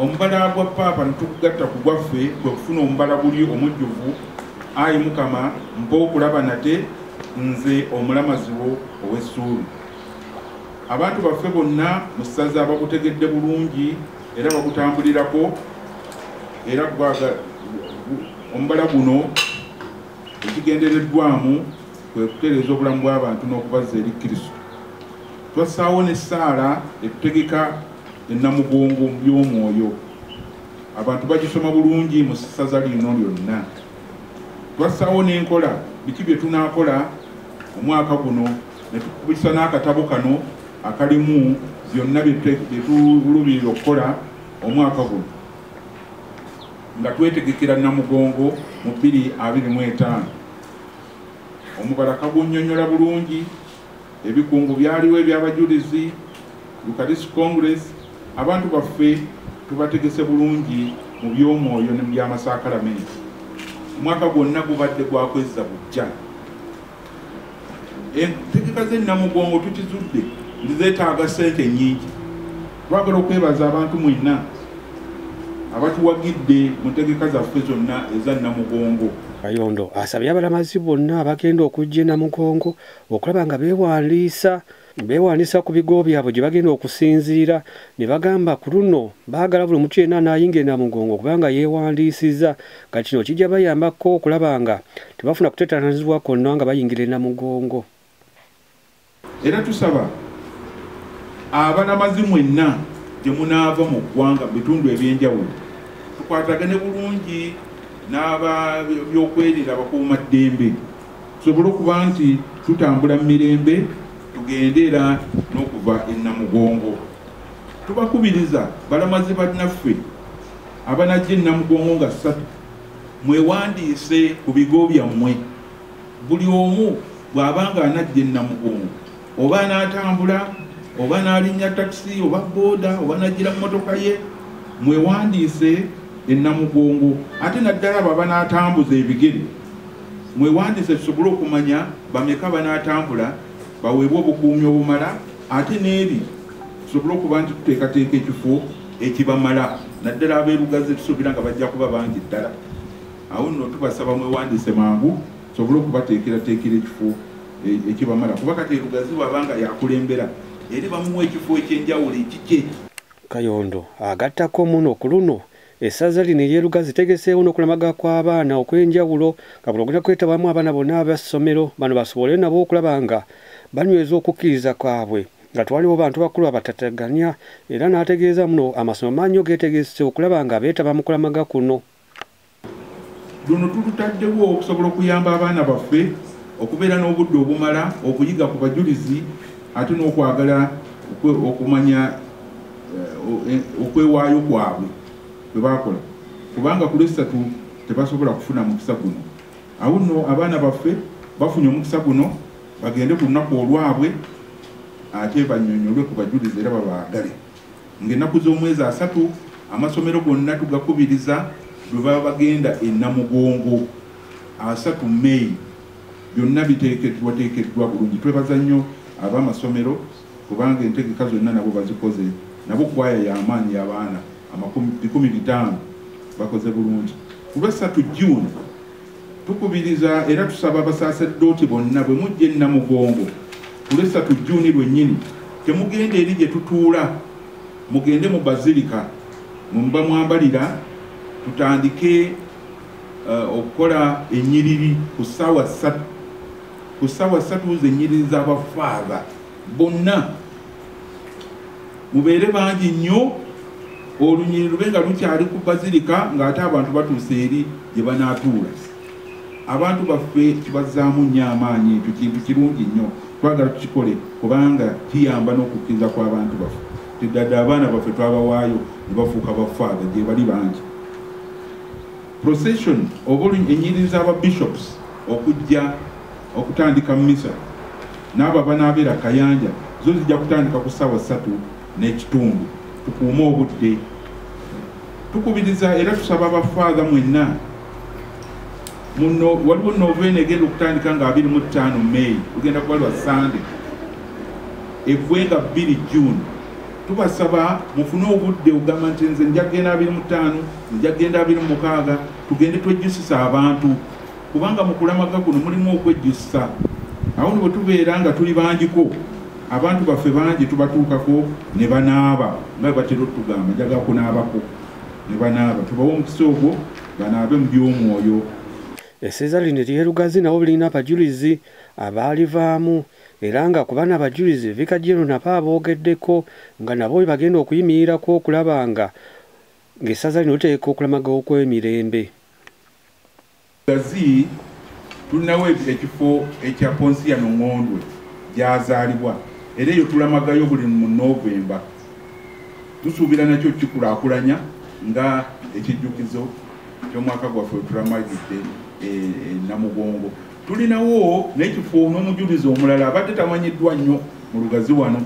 omubala gwa paapa netukugatta ku gwaffe kwe kufuna omubala guli omujjuvu ayi mukama mpa okulaba nate nze omulamazi wo ow'essuubi abantu baffe bonna mu ssaza bagutegedde bulungi era bagutambulirako era gwaga omubala guno ekigendereddwamu kwe kutereeza obulamu bw'abantu n'okubazza eri kristo twassaawo n'essaala etutegeka ne Namugongo mu by'omwoyo abantu bagisoma bulungi mu ssaza lino lyonna. Twassaawo n'enkola biki bye tunaakola omwaka guno ne tukubisa n'akatabo kano akalimu byonna bye tuluubirira okukola omwaka guno nga twetegekera Namugongo mu bbiri abiri mu etaano. Omubala kagunnyonnyola bulungi Ebikungu byaliwo eby'abajulizi, Eucharist Congress, abantu baffe tubategese bulungi mu by'omwoyo ne mu by'amasaakalamenti. Omwaka gwonna gubadde gwa kwezza bujja. Entegeka z'e Namugongo tukizudde nti zeetaaga ssente nnyingi. Twagala okwebaza abantu mwenna abatuwagidde mu ntegeka zaffe zonna eza Namugongo. Kayondo asabye abalamazi bonna abagenda okujja e Namugongo okulaba nga beewandiisa beewandiisa ku bigo byabwe gye bagenda okusinziira ne bagamba ku luno baagala buli mutu yenna anaayingira namugongo kubanga yeewandiisiza nga kino kijja bayambako okulaba nga tebafuna kutetanazibwa konna nga bayingira enamugongo era tusaba abanamazi mwenna gye munaava mu ggwanga mu bitundu ebyenjawulo tukwatagane bulungi n'aba byokwerira bakuuma ddembe tusobole okuba nti tutambula mu mirembe tugende era n'okuva e Namugongo. Tubakubiriza balamazi bannaffe abanajja e Namugongo nga ssatu mwewandiise ku bigo byammwe buli omu bw'aba nga anajja e Namugongo oba n'atambula oba n'alinnya takisi oba booda oba n'ajjira mu motoka ye mwewandiise ennamugongo ate naddala abo abanaatambuza ebigere mwewandiise tusobole okumanya bameka banaatambula baweebwa obukuumi obumala ate n'eri tusobole okuba nti tuteekateeka ekifo ekibamala naddala abeerugaze tusuubira nga bajja kuba bangi ddala awo nno tubasaba mwewandiise mangu tusobole okubateekerateekera ekifo ekibamala kuba kati erugazi bwaba nga yakulembera eri bamuwa ekifo ekyenjawulo ekikye kayondo agattako muno ku luno essaza lino eryerugazi tegeseewo n'okulamaga kw'abaana okw'enjawulo nga buno ogenda kwetabamu abaana bonna abassomero bano basobole nabo okulaba nga banyweza okukkiriza kwabwe nga twaliwo bantu bakulu abatataganya era n'ategeeza muno amasomero maanyo geetegese okulaba nga beetaba mu kulamaga kuno luno tulutaddewo okusobola okuyamba abaana baffe okubeera n'obudde obumala okuyiga ku bajulizi ate n'okwagala okumanya eh, eh, okwewaayo kwabwe kwe bakola kubanga ku lwessatu tebasobola kufuna mukisa guno awo nno abaana baffe bafunye omukisa guno bagende ku lunaku olwabwe ate banyonyolwe ku bajulizi era babaagale Ng'ennaku z'omwezi asatu amasomero gonna tugakubiriza bwe baba bagenda e Namugongo asatu May byonna biteekeddwateekeddwa bulungi. Twebaza nnyo ab'amasomero kubanga entegeka zonna nabo bazikoze nabo kwaya y'amaanyi y'abaana amakumi bikumi bitaano bakoze bulungi. Ku Lwessatu June. Tukubiriza era tusaba abasaaserdooti bonna bwe mujja e Namugongo ku Lwessatu Jjuuni lwennyini temugenda eri gye tutuula mugende mu bazilika mwe muba mwambalira tutandike eh, okukola ennyiriri ku ssaawa ssatu ku ssaawa ssatu z'ennyiriri z'abafaava bonna mubeere bangi nnyo olunyiri lube nga lukyali ku bazirika ng'ate abantu batuuse eri gye banaatuula abantu baffe tubazzaamu nnyo amaanyi ekyo kintu kirungi nnyo twagala tukikole kubanga kiyamba n'okukkiriza kw'abantu baffe teddadde abaana baffe twabawaayo ne bafuuka bafaada gye bali bangi procession oba enyiriri z'aba bishops okujja okutandika misa n'abo abanaabeera kayanja zo zijja kutandika ku ssaawa ssatu n'ekitundu tukuume obudde tukubiriza era tusaba abafaadha mwenna muno waliwo noveena egenda okutandika nga abiri mu ttaano meyi ogenda kuba lwa sande egwe nga bbiri june tubasaba mufune obudde ogamba nti nze nja kugenda abiri mu ttaano nja kugenda abiri mu mukaaga tugende twejjusisa abantu kubanga mu kulamaga kuno mulimu okwejjusa awo nibwe tubeera nga tuli bangiko abantu baffe bangi tubatuukako ne banaaba nga batera otugamba njaga kunaabako ne banaaba tubawa omukisa ogwo banaabe mu by'omwoyo eseza lino eryerugazi nabo birina abajulizi abaalivaamu era nga ku bana abajulizi vika jero nabo aboogeddeko nga nabo we bagenda okuyimirirako okulaba nga ng'essaza lino liteeka okulamaga okw'emirembe Gazi tulinawo ekifo ekya Ponsiano Ngondwe gyazaalibwa era eyo tulamagayo buli mu Novemba. Tusuubira nakyo kikulakulanya nga ekijjukizo ky'omwaka gwaffe wetulamagidde e, e Namugongo. Tulinawo n'ekifo n'omujulizi omulala abadde tamanyiddwa nnyo mu Lugazi wano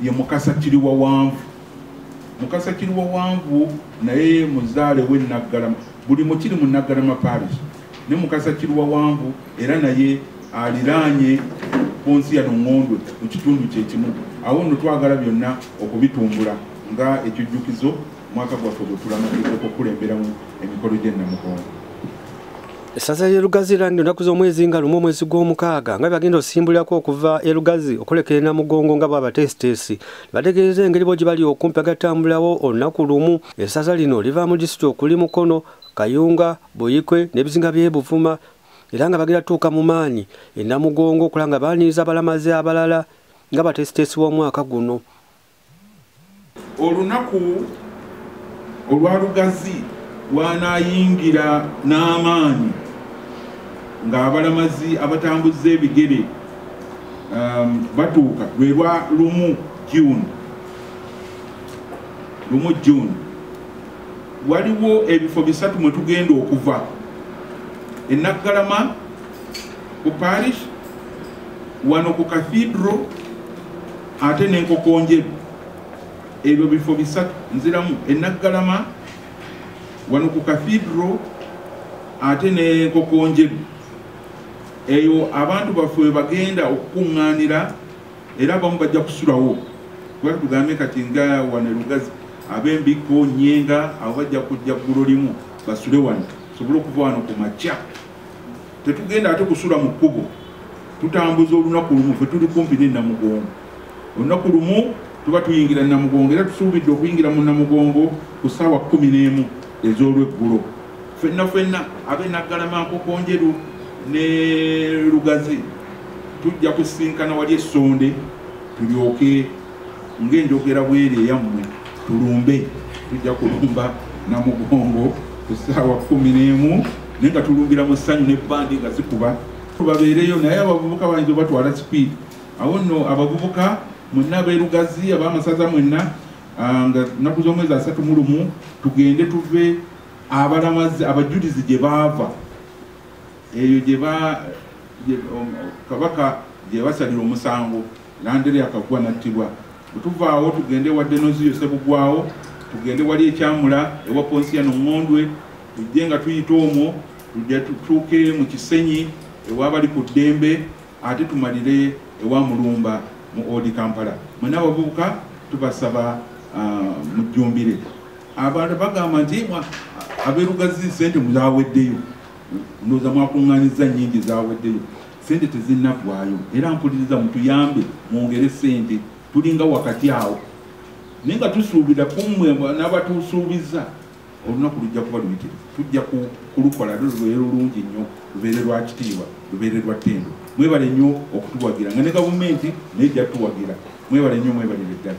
ye Mukasa Kiriwawanvu. Mukasa Kiriwawanvu naye muzaale we Naggalama. Buli mukiri mu Naggalama Parish ne Mukasa Kiruwawanvu era naye aliraanye Ponsiano Ngondwe mu kitundu kye kimu. Awo nno twagala byonna okubitumbula nga ekijjukizo mwaka gwaffe gwe tulamatiza okukulemberamu emikolo gy'e Namugongo. Essaza ly'e Lugazi lirangirira ennaku z'omwezi nga lumu omwezi gw'omukaaga nga bagenda osimbulirako okuva e Lugazi okulekera e Namugongo nga bw'abateesiteesi bategeeza engeri bo gye bali okumpi agatambulawo olunaku lumu essaza lino liva mu disitulikiti okuli mukono kayunga buyikwe n'ebizinga by'e buvuma era nga bagenda tuuka mu maanyi e namugongo okulaba nga baaniriza abalamazi abalala nga bateesiteesi b'omwaka guno olunaku olwa lugazi lwanaayingira n'amaanyi ng'abalamazi abatambuza ebigere um, batuuka lwe lwa lumu june lumu june waliwo ebifo bisatu mwe tugenda okuva enaggalama ku parish wano ku cathedral ate nenkokonjeru ebyo bifo bisatu nziramu enaggalama wano ku cathedral ate nenkokonjeru eyo abantu baffe webagenda okukuŋŋaanira era abamu bajja kusulawo kuba tugambe kati nga wane lugazi ab'embikko nyenga abo bajja kujja ggulo limu basule wano sobole okuva wano ku makya tetugenda ate kusula mu kkubo tutambuza olunaku lumu fe tuli kumpi nenamugongo olunaku lumu tuba tuyingira namugongo era tusuubidde okuyingira mu namugongo ku ssaawa kumi n'emu ez'olweggulo fenna fenna abe naggalamaankokonjeru ne lugazi tujja kusinkana wali essonde tulyoke ng'enjogera bweri eyammwe tulumbe tujja kulumba namugongo ku ssaawa kumi n'emu naye nga tulumbira mu ssanyu ne bandi nga zikuba tubabeereyo naye abavubuka bayinza obatwala sipiidi Awo nno abavubuka mwenna ab'e Lugazi, ab'amasaza mwenna, ah, nga nnaku z'omwezi asatu mu lumu, tugende tuve abalamazi abajulizi gye baava eyo gye um, kabaka gye basalira omusango landere akagwa nattibwa bwetuvaawo tugende wa denoziyo sebugwawo tugende wali ekyamula ewa ponsiya noŋŋondwe tujje nga tuyita omwo tujja tutuuke mu kisenyi ewabali ku ddembe ate tumalire ewa mulumba mu odi kampala mwena abavubuka tubasaba ah, mujjumbire abantu bagamba nti aberugazi sente muzaweddeyo ndoza mwakuŋŋanyiza nyingi zaweddeyo sente tezinagwayo era mpuliriza mutuyambe mwongere sente tulinga wakati awo naye nga tusuubira kumwe nabatusuubiza olunaku lujja kuba luyitirivu tujja kulukola lubeere lulungi nnyo lubeere lwa kitiibwa lubeere lwa ttendo mwebale nnyo okutuwagira nga ne gavumenti naye jjatuwagira mwebale nnyo mwebalire ddala